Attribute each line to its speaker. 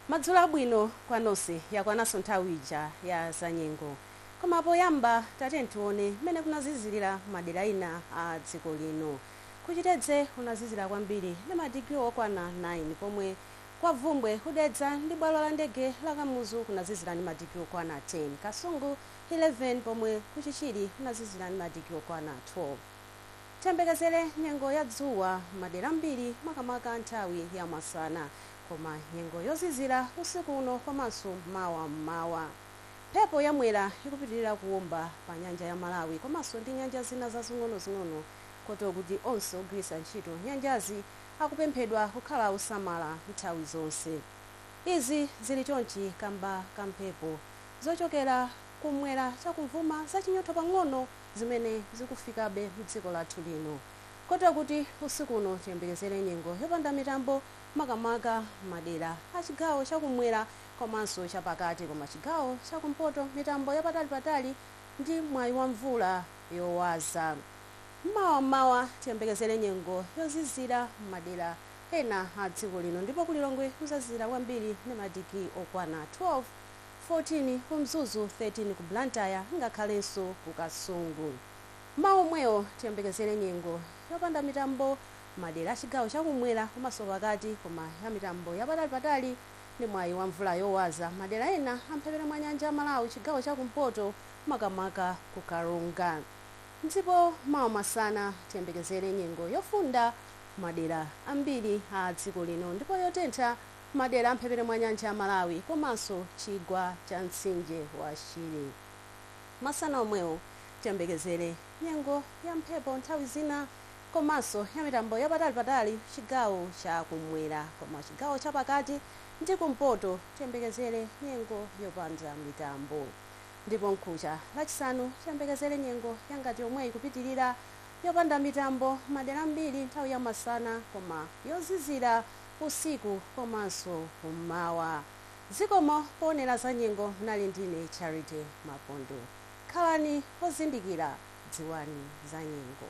Speaker 1: Madzulo abwino kwa nonse. Yakwananso nthawi ija ya zanyengo. Koma poyamba tatiyeni tione mmene kunazizirira madera ena a dziko lino. Ku Chitedze kunazizira kwambiri ndi madigiri okwana 9 pomwe kwa Bvumbwe, ku Dedza ndi bwalo la ndege la Kamuzu kunazizira ndi madigiri okwana 10, Kasungu 11 pomwe ku Chichiri kunazizira ndi madigiri okwana 12. Tiyembekezere nyengo ya dzuwa madera ambiri makamaka nthawi ya masana koma nyengo yozizira usiku uno komanso mawa mmawa. Mphepo ya mwera ikupitirira kuwomba pa nyanja ya Malawi komanso ndi nyanja zina zazing'onozing'ono kotero kuti onse ogwiritsa ntchito nyanjazi akupemphedwa kukhala osamala nthawi zonse. Izi zili chonchi kamba ka mphepo zochokera kumwera chakumvuma zachinyotho pang'ono zimene zikufikabe m'dziko lathu lino kotero kuti usiku uno tiyembekezere nyengo yopanda mitambo makamaka madera a chigawo chakumwera komanso chapakati koma chigawo chakumpoto mitambo yapatalipatali ndi mwayi wa mvula yowaza mawa mmawa tiyembekezere nyengo yozizira m'madera ena a dziko lino ndipo ku Lilongwe kuzazizira kwambiri ndi madigiri okwana 12 14 ku Mzuzu, 13 ku Blantyre ngakhalenso ku Kasungu. Mmawa omwewo tiyembekezere nyengo yopanda mitambo madera a chigawo cha kumwera komanso pakati koma ya mitambo yapatalipatali ndi mwayi wa mvula yowaza madera ena a mphepete mwa nyanja ya Malawi chigawo cha kumpoto makamaka ku Karonga. Ndipo mawa masana tiyembekezere nyengo yofunda madera ambiri a dziko lino ndipo yotentha Madera a mphepete mwa nyanja ya Malawi komanso chigwa cha mtsinje wa Shire. Masana omwewo tiyembekezere nyengo ya mphepo nthawi zina komanso ya mitambo yapatalipatali chigawo cha kumwera koma chigawo cha pakati ndi kumpoto tiyembekezere nyengo yopanda mitambo ndipo mkucha lachisanu tiyembekezere nyengo yangati yomweyi kupitilira yopanda mitambo madera ambiri nthawi ya masana koma yozizira usiku komanso kum'mawa. Zikomo poonera za nyengo munali ndine Charity Mapondo. Khalani ozindikira, dziwani za nyengo.